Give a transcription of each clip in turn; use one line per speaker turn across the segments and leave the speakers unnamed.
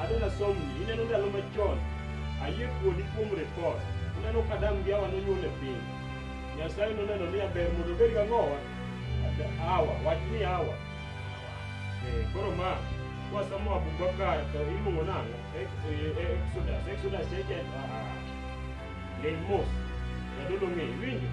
Adwa nasomni, ineno ndalo machon, ayie kuodi kuom rekod. Ineno ka Adam gi Hawa nonyuol e piny. Nyasaye noneno ni aber mondo obed gi ang'owa? Ad- Hawa, wach ni Hawa. Eh, Koro ma, kwasomo Abubakar to iluongo nang'o? Ex- eh, eh, Exodus, Exodus cheke, ah, ah. Ling mos, jadolo ng'e, iwinjo?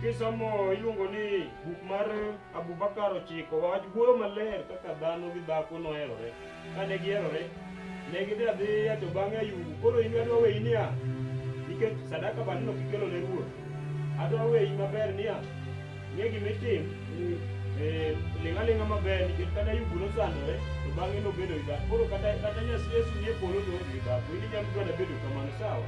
Kisomo iluongo ni buk mar Abubakar ochiko wach wuoyo maler kaka dhano gi dhako noherore. Kane giherore, ne gidhi adhiya to bang'e ayubu. Koro in adwa weyi niya, nikech sadaka bandno kikelo ne ruoth. Adwa weyi maber niya, ng'e gima itim, eh, ling' aling'a maber nikech kane ayubu nosandore to bang'e nobedo gi dhako. Koro kata kata Yesu nie polo to oonge gi dhako, in inyalo dwada bedo kamano sawa.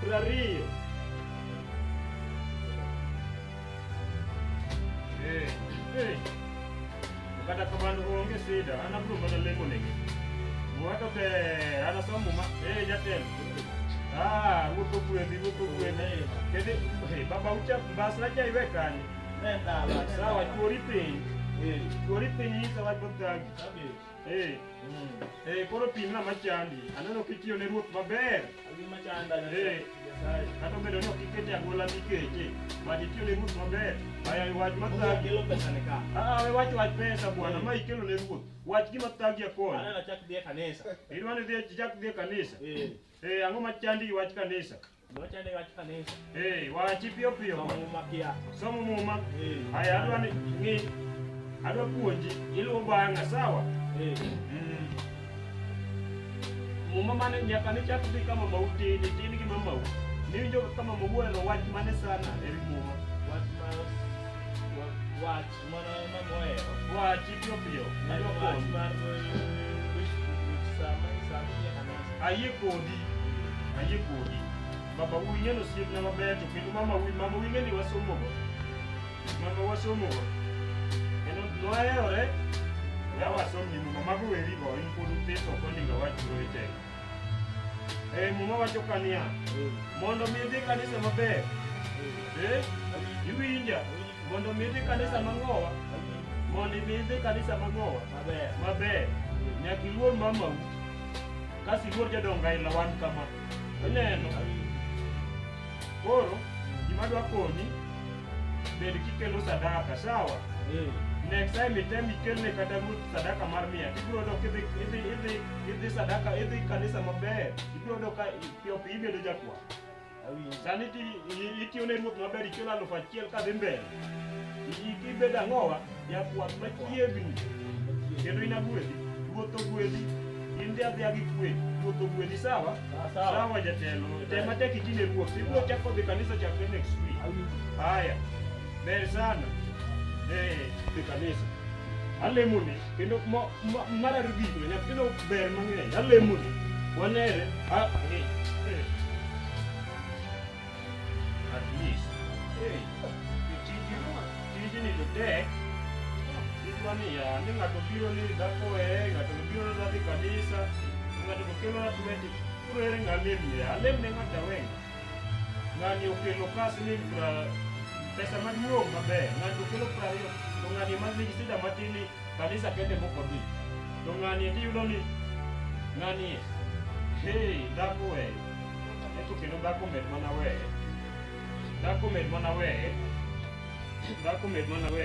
Prariyo. Eh, eh. Kata kamano onge sida, an abro mana lemo negi. Mwato be anasomo ma eh jatelo. Ah, wuotho gwedhi, wuotho gwedhi. Kede, eh, baba ucha bas na jai we kani. Nenda. Sawa, chuori piny. Chuori piny isa wach bodhagi. Hey, hey, koro pim na machandi. Aneno kitiyo ne ruoth maber. Abi machanda na Hey. Nyasaye. Kata obedo ni ok ikete e agola mikeche, but itiyo ne ruoth maber. Aya wach Mungu mathagi. akelo pesa ni ka. Ah, we wach wach pesa bwana, ma ikelo ne ruoth. Wach gima thagi akon. Aneno chak dhi e kanisa. Idwa ni dhi chak dhi e kanisa. Eh. Eh, ang'o machandi gi wach kanisa? Wacha ni watu kanisa. Eh, wachi pio pio. Somo muma pia. Somo muma. Eh. Haya adwa ni ni adwa puonji iluwo banga sawa? Eh. Mm. Muma mane nyaka ni chak dhi kama mau tini tini gi mamau. Ni jo kama mau wach mane sana eri muma. Wach ma wach ayie kodi ayie kodi baba wuyi ng'eno osiepna maber to kendo mama wuyi mama wuyi ng'eni wasomogo mama wasomogo kendo noherore ya wasomni muma mago werigo in pod uthiso ok oninga wachuro e teko Eh, muma wacho ka niya mondo mi idhi kanisa maber Eh, iwinja Mondo mi idhi kanisa mang'owa. Mondo mi idhi kanisa mang'owa. Maber. Maber. Nyaka iluor mamau. Kasi iluor jodongo aila wan kama. Ineno. Koro gima dwa konyi bed kikelo sadaka sawa. Next time item ikelne kata ruoth sadaka mar mia ibiro yudo kidhi idhi idhi idhi sadaka idhi kanisa maber ibiro yudo ka piyo piyo ibedo jakwa. Awinjo. Sani ti i- itiyo ne ruoth maber ichulo alufu achiel kadhi mbele. I- i- Ibedo ang'owa jakwath machiegni kendo in agwedhi. Ruoth ogwedhi. In dhi adhiya gi kwe. Ruoth ogwedhi sawa? Sawa. Sawa jatelo. Tem matek iti ne ruoth. Ibiro chako dhi kanisa chakre next week. Haya. Ber sana. Eh, dhi kanisa. Alemoni. kendo mar arigik na nyathino ber mang'eny alemoni wanere at least tijni to tek kitwa niya ni ng'ato biro ni dhako ee ng'ato biro ni dhadhi kanisa ng'ato to kelo na tweti koro ere ng'alem niya alem ne ng'ata weng'a ng'ani okelo ka siling pra- pesa maduong' maber ng'ani okelo prariyo to ng'ani ma nigi sida matin ni kanisa kende mokodhi to ng'ani eki yudo ni ng'ani hey dhako we eto kendo dhako med mana we dhako med mana we dhako med mana we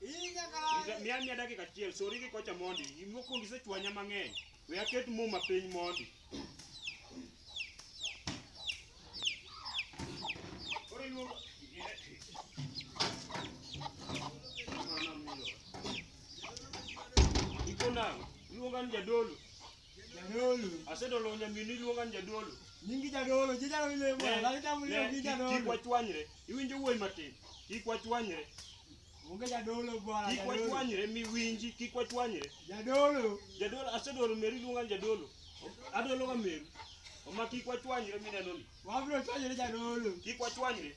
Inya kala. Mia mia dakika achiel, sori gi kocha mondi. Imokuongo isechwanya mang'eny. We aket muma piny mondi. Koro iluongo Ikona, iluonga ni jadolo. Jadolo. Asedolo nyaminu iluonga ni jadolo. Nyingi jadolo, je jalo ile Ne, mwana, lani tamu ile ne, ki kik- Kik jadolo. wachwanyre. Iwinjo wuoyi matin. Kik wachwanyre. Onge jadolo bwana, Kik jadolo. wachwanyre miwinji. Kik wachwanyre. Jadolo. Jadolo asedolo meru iluonga ni jadolo. Adologa meru. Oma kik wachwanyre mineno ni. Wabro chwanyore jadolo. Kik wachwanyre.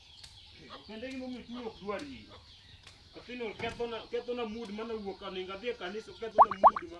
Kende gima omiyo chunya ok dwar yie. Athino kethona kethona mood mana wuok aninga dhi e kanisa kethona mood ma